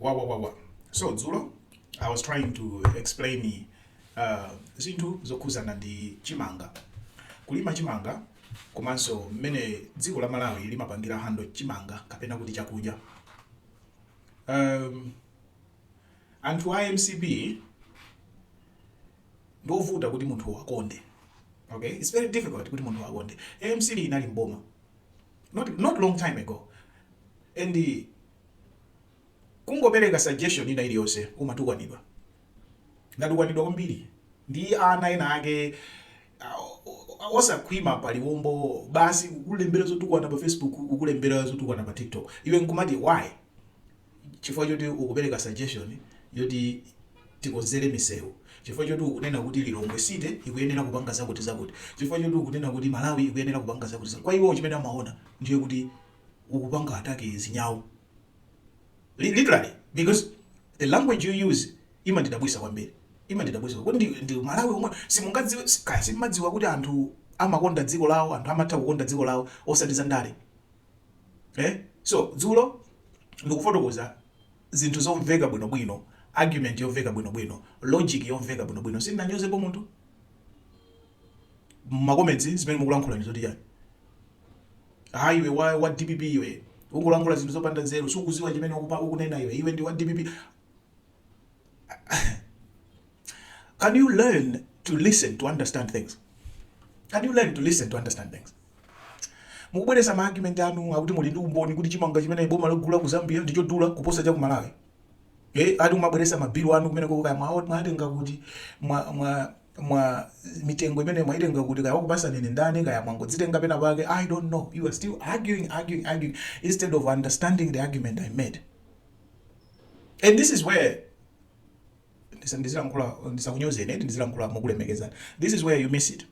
wawawawa so dzulo i was trying to explain uh, zinthu zokhuzana ndi chimanga kulima chimanga komanso mmene dziko la malawi limapangira handle chimanga kapena kuti chakudya um, anthu a mcp ndiovuta kuti munthu awakonde okay it's very difficult kuti munthu awakonde mcp inali mboma not, not long time ago and Kungopereka suggestion ina iliyonse umatukwanidwa. Ndatukwanidwa kwambiri ndi ana ena ake osakhwima paliwombo basi kukulembera zotukwana pa facebook kukulembera zotukwana pa tiktok iwe nkumati why? Chifukwa choti ukupereka suggestion yoti tikonzere misewu, chifukwa choti ukunena kuti Lilongwe city ikuyenera kupanga zakuti zakuti, chifukwa choti ukunena kuti Malawi ikuyenera kupanga zakuti zakuti. Kwa iwowo chimene amaona ndiye kuti ukupanga attack zinyau literally because the language you use imandidabwisa kwambiri imandidabwisa kuti ndi, ndi malawi omwe simungadziwe kaya simumadziwa kuti anthu amakonda dziko lawo anthu amatha kukonda dziko lawo osati za ndale eh? so dzulo ndikufotokoza zinthu zomveka bwinobwino argument yomveka bwinobwino logic yomveka bwinobwino sindinanyozepo munthu ma comments zimene mukulankhula ndi zoti chani hayi iwe wa, wa dpp iwe ukulankhula zinthu zopanda nzeru sukuziwa chimene ukupa- ukunena iwe iwe ndi wa dpp can you learn to listen to understand things can you learn to listen to understand things mukubweresa ma argument anu akuti muli ndi umboni kuti chimanga chimene boma lagula ku zambia ndi chodula kuposa cha ku malawi eh ati umabweresa mabilu anu kumeneko kaya mwatenga kuti mwa, mwa mwa mitengo imene mwaitenga kuti kaya wakupasani ndi ndani kaya mwangodzitenga pena pake i don't know you are still arguing arguing arguing instead of understanding the argument i made and this is where ndisa- ndizilankhula ndisakunyozeni eti ndizilankhula mokulemekezani this is where you miss it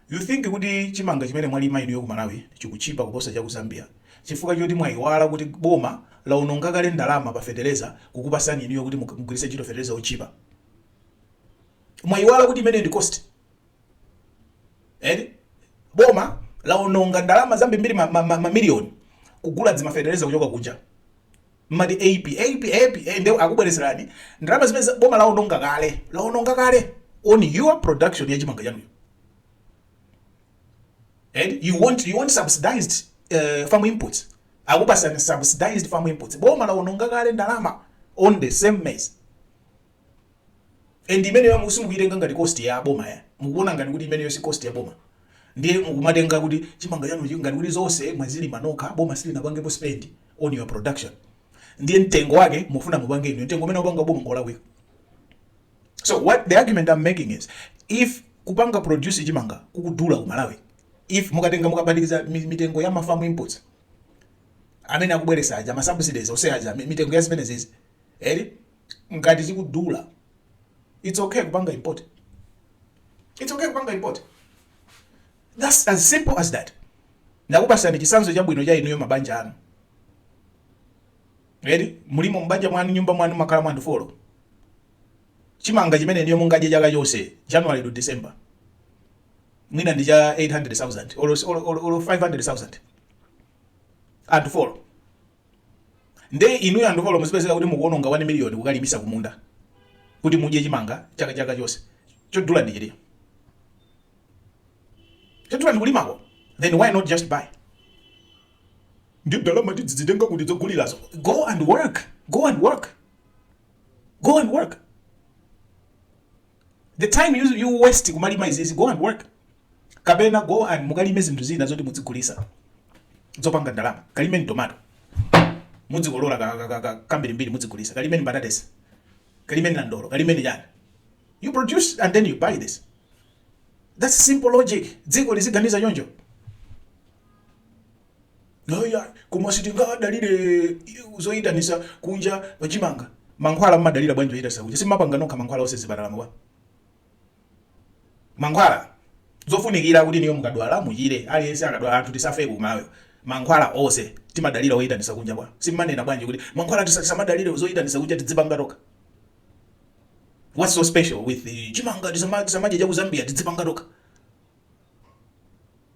you think kuti chimanga chimene mwalima inuyo ku malawi chikuchipa kuposa cha ku zambia chifukwa choti mwayiwala kuti boma laononga kale ndalama pa fetereza kukupasani inuyo kuti mug- mugwiritse ntchito fetereza ochipa mwayiwala kuti imeneyo ndi cost eti boma laononga ndalama zambirimbiri mamiliyoni ma, ma, ma mamiliyoni kugula dzimafetereza kuchoka kunja mmati aip aip aip eh, nde akubwereserani ndalama zimene za- boma laononga kale laononga kale on your production ya chimanga chanucho and you want you want subsidized uh, farm inputs akupasani subsidized farm inputs boma laononga kale ndalama on the same maize And imeneyo simukuyitenga ngati cost ya boma ya? Mukuwona ngati kuti imeneyo si cost ya boma? Ndiye mukumatenga kuti chimanga chanuchi ngati kuti zonse mwazilima nokha, boma silinapangepo spend on your production. Ndiye mtengo wake mufuna mupange inuyo, mtengo umene wapanga boma ngolakwika. So what the argument I'm making is if kupanga produce chimanga kukudula ku Malawi, if mukatenga mukaphatikiza mitengo ya ma farm inputs amene akubweresa aja ma subsidies ose aja mitengo ya zimene zizi eri ngati chikudula it's okay kupanga import it's okay kupanga import that's as simple as that ndakupasani chisanzo chabwino cha inuyo mabanja anu eri mulimo mubanja mwanu nyumba mwanu mumakhala anthu folo chimanga chimene inuyo mungadye chaka chonse january to december mwina ndi cha 800000 or, or, or, or 500000 anthu folo nde inuyo anthu folo muzipezeka kuti mukuononga 1 million kukalimitsa kumunda kuti mudye chimanga chaka chaka chonse chodula ndi chiti chodula ndi kulimako then why not just buy ndi ndalama tidzidzitenga kuti dzogulirazo go and work go and work go and work the time you, you waste kumalima izizi go and work kapena go and mukalime zinthu zina zoti mudzigulisa zopanga ndalama kalimeni tomato mudzikolola kambirimbiri mudzigulisa kalimeni mbatatesi kalimeni nandolo kalimeni chani you produce and then you buy this that's simple logic dziko liziganiza choncho Ayi, koma sitingadalire zoyitanisa kunja pa chimanga. Mankhwala mumadalira bwanji zoyitanisa kunja? Simumapanga nokha mankhwala onse mzipatalamuwa? Mankhwala, zofunikira kuti inuyo mukadwala muchire, aliyense akadwala anthu tisafe ku Malawi. Mankhwala onse timadalira oyitanisa kunja bwa? Simumanena bwanji kuti mankhwala tisamadalire zoyitanisa kunja tidzipanga tokha? What's so special with chimanga tisamadye cha ku Zambia tidzipanga tokha?